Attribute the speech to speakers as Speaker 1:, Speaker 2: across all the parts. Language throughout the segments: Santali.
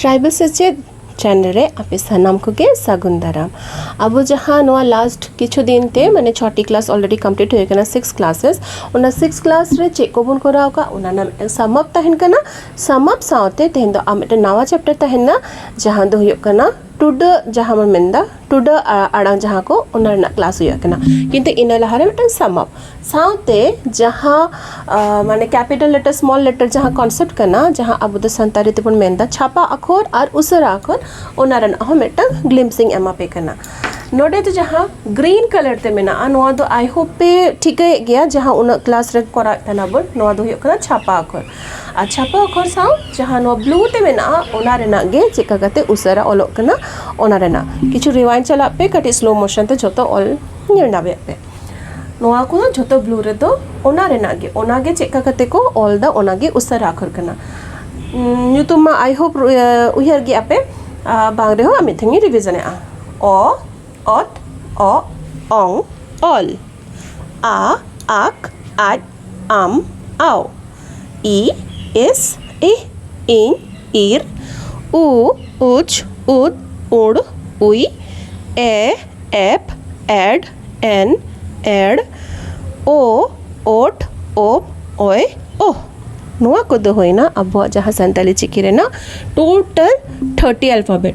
Speaker 1: ᱴᱨᱟᱭᱵᱮᱞ ᱥᱮᱪᱮᱫ ᱪᱮᱱᱮᱞ ᱨᱮ ᱟᱯᱮ ᱥᱟᱱᱟᱢ ᱠᱚᱜᱮ ᱥᱟᱹᱜᱩᱱ ᱫᱟᱨᱟᱢ ᱟᱵᱚ ᱡᱟᱦᱟᱸ ᱱᱚᱣᱟ ᱞᱟᱥᱴ ᱠᱤᱪᱷᱩ ᱫᱤᱱ ᱛᱮ ᱢᱟᱱᱮ ᱪᱷᱚᱴᱤ ᱠᱞᱟᱥ ᱚᱞᱨᱮᱰᱤ ᱠᱚᱢᱯᱞᱤᱴ ᱦᱩᱭ ᱠᱟᱱᱟ ᱥᱤᱠᱥ ᱠᱞᱟᱥᱮᱥ ᱚᱱᱟ ᱥᱤᱠᱥ ᱠᱞᱟᱥ ᱨᱮ ᱪᱮᱫ ᱠᱚᱵᱚᱱ ᱠᱚᱨᱟᱣ ᱟᱠᱟᱫ ᱚᱱᱟ ᱨᱮᱱᱟᱜ ᱢᱤᱫᱴᱟᱝ ᱥᱟᱢᱟᱯ ᱛᱟᱦᱮᱱ ᱠᱟᱱᱟ ᱥᱟᱢ ᱟᱯ ᱥᱟᱶᱛᱮ ᱛᱮᱦᱮᱧ ᱫᱚ ᱟᱨ ᱢᱤᱫᱴᱮᱱ ᱱᱟᱣᱟ ᱪᱮᱯᱴᱟᱨ ᱛᱟᱦᱮᱱᱟ ᱡᱟᱦᱟᱸ ᱫᱚ ᱦᱩᱭᱩᱜ ᱠᱟᱱᱟ ᱴᱩᱰᱟᱹᱜ ᱡᱟᱦᱟᱸ ᱵᱚᱱ ᱢᱮᱱᱫᱟ ᱴᱩᱰᱟᱹᱜ ᱟᱲᱟᱝ ᱡᱟᱦᱟᱸ ᱠᱚ ᱚᱱᱟ ᱨᱮᱱᱟᱜ ᱠᱞᱟᱥ ᱦᱩᱭᱩᱜ ᱠᱟᱱᱟ ᱠᱤᱱᱛᱩ ᱤᱱᱟᱹ ᱞᱟᱦᱟᱨᱮ ᱢᱤᱫᱴᱟᱝ ᱥᱟᱢ ᱟᱯ ᱥᱟᱶᱛᱮ ᱡᱟᱦᱟᱸ ᱢᱟᱱᱮ ᱠᱮᱯᱤᱴᱮᱞ ᱞᱮᱴᱟᱨ ᱥᱢᱚᱞ ᱞᱮᱴᱟᱨ ᱡᱟᱦᱟᱸ ᱠᱚᱱᱥᱮᱯᱴ ᱠᱟᱱᱟ ᱡᱟᱦᱟᱸ ᱟᱵᱚ ᱫᱚ ᱥᱟᱱᱛᱟᱲᱤ ᱛᱮᱵᱚᱱ ᱢᱮᱱᱫᱟ ᱪᱷᱟᱯᱟ ᱟᱠᱷᱚᱨ ᱟᱨ ᱩᱥᱟᱹᱨᱟ ᱟᱠᱷᱚᱨ ᱚᱱᱟ ᱨᱮᱱᱟᱜ ᱦᱚᱸ ᱢᱤᱫᱴᱟᱝ ᱜᱞᱤᱢᱥ ᱤᱧ ᱮᱢᱟ ᱯᱮ ᱠᱟᱱᱟ ᱱᱚᱰᱮ ᱫᱚ ᱡᱟᱦᱟᱸ ᱜᱨᱤᱱ ᱠᱟᱞᱟᱨ ᱛᱮ ᱢᱮᱱᱟᱜᱼᱟ ᱱᱚᱣᱟ ᱫᱚ ᱟᱭ ᱦᱳᱯ ᱯᱮ ᱴᱷᱤᱠᱟᱹᱭᱮᱜ ᱜᱮᱭᱟ ᱡᱟᱦᱟᱸ ᱩᱱᱟᱹᱜ ᱠᱞᱟᱥ ᱨᱮ ᱠᱚᱨᱟᱣᱮᱜ ᱛᱟᱦᱮᱱᱟᱵᱚᱱ ᱱᱚᱣᱟ ᱫᱚ ᱦᱩᱭᱩᱜ ᱠᱟᱱᱟ ᱪᱷᱟᱯᱟ ᱟᱠᱷᱚᱨ ᱟᱨ ᱪᱷᱟᱯᱟ ᱚᱠᱷᱚᱨ ᱥᱟᱶ ᱡᱟᱦᱟᱸ ᱱᱚᱣᱟ ᱵᱞᱩ ᱛᱮ ᱢᱮᱱᱟᱜᱼᱟ ᱚᱱᱟ ᱨᱮᱱᱟᱜ ᱜᱮ ᱪᱮᱫ ᱞᱮᱠᱟ ᱠᱟᱛᱮ ᱩᱥᱟᱹᱨᱟ ᱚᱞᱚᱜ ᱠᱟᱱᱟ ᱚᱱᱟ ᱨᱮᱱᱟᱜ ᱠᱤᱪᱷᱩ ᱨᱤᱣᱟᱭᱤᱱᱰ ᱪᱟᱞᱟᱜ ᱯᱮ ᱠᱟᱹᱴᱤᱡ ᱥᱞᱳ ᱢᱳᱥᱚᱱ ᱛᱮ ᱡᱷᱚᱛᱚ ᱚᱞ ᱧᱮᱞ ᱧᱟᱢᱮᱜ ᱯᱮ ᱱᱚᱣᱟ ᱠᱚ ᱡᱷᱚᱛᱚ ᱵᱞᱩ ᱨᱮᱫᱚ ᱚᱱᱟ ᱨᱮᱱᱟᱜ ᱜᱮ ᱚᱱᱟ ᱜᱮ ᱪᱮᱫ ᱞᱮᱠᱟ ᱠᱟᱛᱮ ᱠᱚ ᱚᱞᱫᱟ ᱚᱱᱟ ᱜᱮ ᱩᱥᱟᱹᱨᱟ ᱚᱠᱷᱚᱨ ᱠᱟᱱᱟ ᱧᱩᱛᱩᱢ ᱢᱟ ᱟᱭ ᱦᱳᱯ ᱩᱭᱦᱟᱹᱨ ᱜᱮᱭᱟ ᱯᱮ ᱵᱟᱝ ᱨᱮᱦᱚᱸ ᱢᱤᱫ ᱫᱷᱟᱣ ᱤᱧ ᱨᱤᱵᱷᱤᱡᱚᱱᱮᱜᱼᱟ ᱚ ᱚᱛ ᱚᱜ ᱚᱝ ᱚᱞ ᱟ ᱟᱠ ᱟᱡ ᱟᱢ ᱟᱣ ᱤ ᱮᱥ ᱤ ᱤᱧ ᱤᱨ ᱩ ᱩᱪ ᱩᱫ ᱩᱲ ᱩᱭ ᱮ ᱮᱯ ᱮᱰ ᱮᱱ ᱮᱲ ᱳ ᱳᱴ ᱳᱯ ᱚᱭ ᱳᱦ ᱱᱚᱣᱟ ᱠᱚᱫᱚ ᱦᱩᱭᱱᱟ ᱟᱵᱚᱣᱟᱜ ᱡᱟᱦᱟᱸ ᱥᱟᱱᱛᱟᱲᱤ ᱪᱤᱠᱤ ᱨᱮᱱᱟᱜ ᱴᱳᱴᱟᱞ ᱛᱷᱟᱨᱴᱤ ᱟᱞᱯᱷᱟᱵᱮᱴ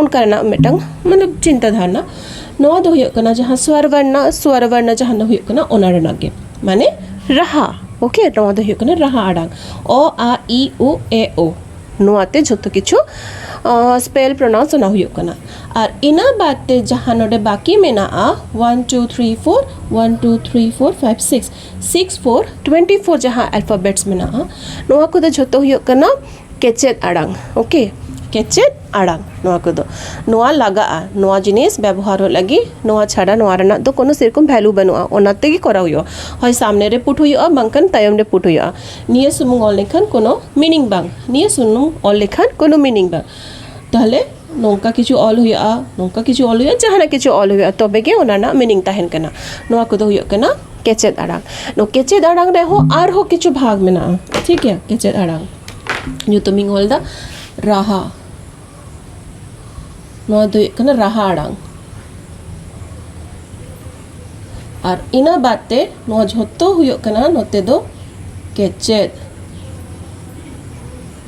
Speaker 1: ᱚᱱᱠᱟ ᱨᱮᱱᱟᱜ ᱢᱤᱫᱴᱟᱝ ᱢᱚᱛᱞᱚᱵ ᱪᱤᱱᱛᱟᱹ ᱫᱷᱟᱨᱱᱟ ᱱᱚᱣᱟ ᱫᱚ ᱦᱩᱭᱩᱜ ᱠᱟᱱᱟ ᱡᱟᱦᱟᱸ ᱥᱣᱚᱨ ᱵᱚᱨᱱᱚ ᱥᱣᱚᱨ ᱵᱚᱨᱱᱚ ᱡᱟᱦᱟᱸ ᱫᱚ ᱦᱩᱭᱩᱜ ᱠᱟᱱᱟ ᱚᱱᱟ ᱨᱮᱱᱟᱜ ᱜᱮ ᱢᱟᱱᱮ ᱨᱟᱦᱟ ᱳᱠᱮ ᱱᱚᱣᱟ ᱫᱚ ᱦᱩᱭᱩᱜ ᱠᱟᱱᱟ ᱨᱟᱦᱟ ᱟᱲᱟᱝ ᱚ ᱟ ᱤ ᱩ ᱮ ᱳ ᱱᱚᱣᱟᱛᱮ ᱡᱷᱚᱛᱚ ᱠᱤᱪᱷᱩ ᱥᱯᱮᱞ ᱯᱨᱚᱱᱟᱣᱩᱱᱥ ᱚᱱᱟ ᱦᱩᱭᱩᱜ ᱠᱟᱱᱟ ᱟᱨ ᱤᱱᱟᱹ ᱵᱟᱫ ᱛᱮ ᱡᱟᱦᱟᱸ ᱱᱚᱰᱮ ᱵᱟᱠᱤ ᱢᱮᱱᱟᱜᱼᱟ one two three four one two three four five six six four twenty four ᱡᱟᱦᱟᱸ ᱟᱞᱯᱷᱟᱵᱮᱴᱥ ᱢᱮᱱᱟᱜᱼᱟ ᱱᱚᱣᱟ ᱠᱚᱫᱚ ᱡᱷᱚᱛᱚ ᱦᱩᱭᱩᱜ ᱠᱟᱱᱟ ᱠᱮᱪᱮᱫ ᱟᱲᱟᱝ ᱳᱠᱮ ᱠᱮᱪᱮᱫ ᱟᱲᱟᱝ ᱱᱚᱣᱟ ᱠᱚᱫᱚ ᱱᱚᱣᱟ ᱞᱟᱜᱟᱜᱼᱟ ᱱᱚᱣᱟ ᱡᱤᱱᱤᱥ ᱵᱮᱵᱚᱦᱟᱨᱚᱜ ᱞᱟᱹᱜᱤᱫ ᱱᱚᱣᱟ ᱪᱷᱟᱰᱟ ᱱᱚᱣᱟ ᱨᱮᱱᱟᱜ ᱫᱚ ᱠᱳᱱᱳ ᱥᱮᱨᱚᱠᱚᱢ ᱵᱷᱮᱞᱩ ᱵᱟᱹᱱᱩᱜᱼᱟ ᱚᱱᱟ ᱛᱮᱜᱮ ᱠᱚᱨᱟᱣ ᱦᱩᱭᱩᱜᱼᱟ ᱦᱳᱭ ᱥᱟᱢᱱᱮ ᱨᱮ ᱯᱩᱴ ᱦᱩᱭᱩᱜᱼᱟ ᱵᱟᱝᱠᱷᱟᱱ ᱛᱟᱭᱚᱢ ᱨᱮ ᱯᱩᱴ ᱦᱩᱭᱩᱜᱼᱟ ᱱᱤᱭᱟᱹ ᱥᱩᱢᱩᱝ ᱚᱞ ᱞᱮᱠᱷᱟᱱ ᱠᱳᱱᱳ ᱢᱤᱱᱤᱝ ᱵᱟᱝ ᱱᱤᱭᱟᱹ ᱥᱩᱢᱩᱝ ᱚᱞ ᱞᱮᱠᱷᱟᱱ ᱠᱳᱱᱳ ᱢᱤᱱᱤᱝ ᱵᱟᱝ ᱛᱟᱦᱚᱞᱮ ᱱᱚᱝᱠᱟ ᱠᱤᱪᱷᱩ ᱚᱞ ᱦᱩᱭᱩᱜᱼᱟ ᱱᱚᱝᱠᱟ ᱠᱤᱪᱷᱩ ᱚᱞ ᱦᱩᱭᱩᱜᱼᱟ ᱡᱟᱦᱟᱱᱟᱜ ᱠᱤᱪᱷᱩ ᱚᱞ ᱦᱩᱭᱩᱜᱼᱟ ᱛᱚᱵᱮ ᱜᱮ ᱚᱱᱟ ᱨᱮᱱᱟᱜ ᱢᱤᱱᱤᱝ ᱛᱟᱦᱮᱱ ᱠᱟᱱᱟ ᱱᱚᱣᱟ ᱠᱚᱫᱚ ᱦᱩᱭᱩᱜ ᱠᱟᱱᱟ ᱠᱮᱪᱮᱫ ᱟᱲᱟᱝ ᱱᱚᱣᱟ ᱠᱮᱪᱮᱫ ᱟᱲᱟᱝ ᱨᱮᱦᱚᱸ ᱟᱨᱦᱚᱸ ᱠᱤᱪᱷᱩ ᱵᱷᱟᱜᱽ ᱢᱮᱱᱟᱜᱼᱟ ᱴᱷᱤᱠ ᱜᱮᱭᱟ ᱠᱮᱪᱮᱫ ᱟᱲᱟᱝ ᱧᱩᱛᱩᱢ ᱤᱧ ᱚᱞᱫᱟ ᱨᱟᱦᱟ ᱱᱚᱣᱟ ᱫᱚ ᱦᱩᱭᱩᱜ ᱠᱟᱱᱟ ᱨᱟᱦᱟ ᱟᱲᱟᱝ ᱟᱨ ᱤᱱᱟᱹ ᱵᱟᱫ ᱛᱮ ᱱᱚᱣᱟ ᱡᱷᱚᱛᱚ ᱦᱩᱭᱩᱜ ᱠᱟᱱᱟ ᱱᱚᱛᱮ ᱫᱚ ᱠᱮᱪᱮᱫ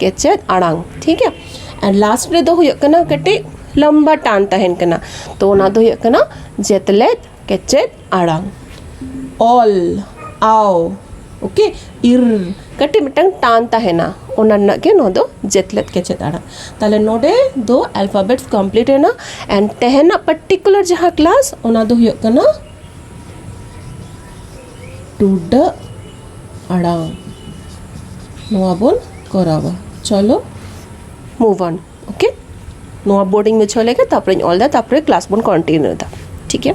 Speaker 1: ᱠᱮᱪᱮᱫ ᱟᱲᱟᱝ ᱴᱷᱤᱠ ᱜᱮᱭᱟ ᱟᱨ ᱞᱟᱥᱴ ᱨᱮᱫᱚ ᱦᱩᱭᱩᱜ ᱠᱟᱱᱟ ᱠᱟᱹᱴᱤᱡ ᱞᱚᱢᱵᱟ ᱴᱟᱱ ᱛᱟᱦᱮᱱ ᱠᱟᱱᱟ ᱛᱚ ᱚᱱᱟ ᱫᱚ ᱦᱩᱭᱩᱜ ᱠᱟᱱᱟ ᱡᱮᱛᱞᱮᱫ ᱠᱮᱪᱮᱫ ᱟᱲᱟᱝ ᱚᱞ ᱟᱣ ᱳᱠᱮ ᱤᱨ ᱠᱟᱹᱴᱤᱡ ᱢᱤᱫᱴᱟᱝ ᱴᱟᱱ ᱛᱟᱦᱮᱱᱟ ᱚᱱᱟ ᱨᱮᱱᱟᱜ ᱜᱮ ᱱᱚᱣᱟ ᱫᱚ ᱡᱮᱛᱞᱮᱫ ᱠᱮᱪᱮᱫ ᱟᱲᱟᱝ ᱛᱟᱦᱚᱞᱮ ᱱᱚᱰᱮ ᱫᱚ ᱟᱞᱯᱷᱟᱵᱮᱴ ᱠᱚᱢᱯᱞᱤᱴ ᱮᱱᱟ ᱮᱱᱰ ᱛᱮᱦᱮᱧᱟᱜ ᱯᱟᱨᱴᱤᱠᱩᱞᱟᱨ ᱡᱟᱦᱟᱸ ᱠᱞᱟᱥ ᱚᱱᱟ ᱫᱚ ᱦᱩᱭᱩᱜ ᱠᱟᱱᱟ ᱴᱩᱰᱟᱹᱜ ᱟᱲᱟᱝ ᱱᱚᱣᱟ ᱵᱚᱱ ᱠᱚᱨᱟᱣᱟ ᱪᱚᱞᱚ ᱢᱩᱵᱷ ᱚᱱ ᱳᱠᱮ ᱱᱚᱣᱟ ᱵᱳᱨᱰᱤᱝ ᱢᱩᱪᱷᱟᱹᱣ ᱞᱮᱜᱮ ᱛᱟᱨᱯᱚᱨᱮᱧ ᱚᱞ ᱮᱫᱟ ᱛᱟᱨᱯᱚᱨᱮ ᱠᱞᱟᱥ ᱵᱚᱱ ᱠᱚᱱᱴᱤᱱᱤᱭᱩ ᱮᱫᱟ ᱴᱷᱤᱠ ᱜᱮᱭᱟ